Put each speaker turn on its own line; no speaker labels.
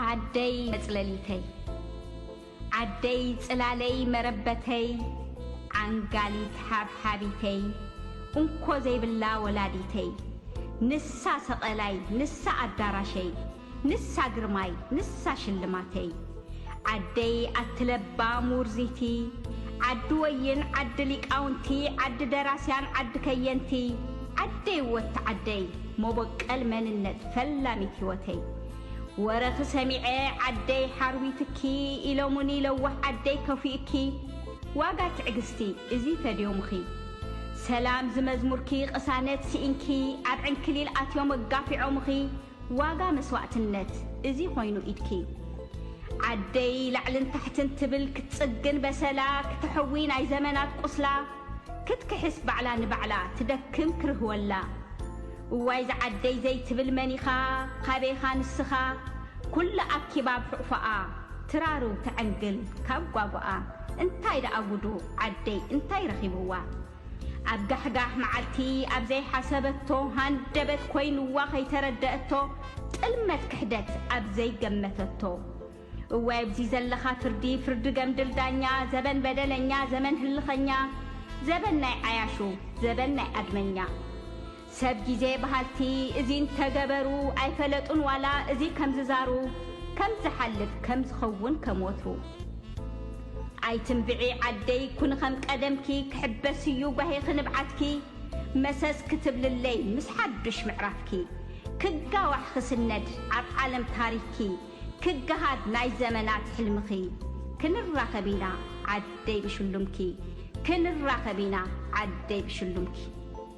ዓደይ መፅለሊተይ ዓደይ ፅላለይ መረበተይ ዓንጋሊት ሓብሓቢተይ እንኮ ዘይብላ ወላዲተይ ንሳ ሰቐላይ ንሳ ኣዳራሸይ ንሳ ግርማይ ንሳ ሽልማተይ ዓደይ ኣቲ ለባም ውርዚቲ ዓዲ ወይን ዓዲ ሊቃውንቲ ዓዲ ደራስያን ዓዲ ከየንቲ ዓደይ ወቲ ዓደይ ሞቦቀል መንነት ፈላሚት ሂወተይ ወረኪ ሰሚዐ ዓደይ ሓርዊትኪ ኢሎሙኒ ለዋህ ዓደይ ከፊኡኪ ዋጋ ትዕግስቲ እዚ ፈድዮምኺ ሰላም ዝመዝሙርኪ ቅሳነት ሲኢንኪ ኣብ ዕንክሊል ኣትዮም ኣጋፊዖምኺ ዋጋ መስዋእትነት እዚ ኮይኑ ኢድኪ ዓደይ ላዕልን ታሕትን ትብል ክትጽግን በሰላ ክተሕዊ ናይ ዘመናት ቁስላ ክትክሕስ ባዕላ ንባዕላ ትደክም ክርህወላ እዋይ ዝዓደይ ዘይትብል መኒኻ ካበይኻ ንስኻ ኩሉ ኣኪባ ኣብ ሑቕፎኣ ትራርው ትዕንግል ካብ ጓጉኣ እንታይ ደኣ ጉዱ ዓደይ እንታይ ረኺብዋ ኣብ ጋሕጋሕ መዓልቲ ኣብ ዘይሓሰበቶ ሃንደበት ኮይንዋ ከይተረደኣቶ ጥልመት ክሕደት ኣብ ዘይገመተቶ እወ ኣብዚ ዘለኻ ፍርዲ ፍርዲ ገምድል ዳኛ ዘበን በደለኛ ዘመን ህልኸኛ ዘበን ናይ ዓያሹ ዘበን ናይ ኣድመኛ ሰብ ጊዜ በሃልቲ እዚ እንተገበሩ ኣይፈለጡን ዋላ እዚ ከምዝዛሩ ከም ዝሓልፍ ከም ዝኸውን ከም ወትሩ ኣይትንብዒ ዓደይ ኩኒ ከም ቀደምኪ ክሕበስ እዩ ጓሂኺ ንብዓትኪ መሰስ ክትብልለይ ምስ ሓዱሽ ምዕራፍኪ ክጋዋሕ ክስነድ ኣብ ዓለም ታሪኽኪ ክገሃድ ናይ ዘመናት ሕልምኺ ክንራኸብ ኢና ዓደይ ብሽሉምኪ ክንራኸብ ኢና ዓደይ ብሽሉምኪ።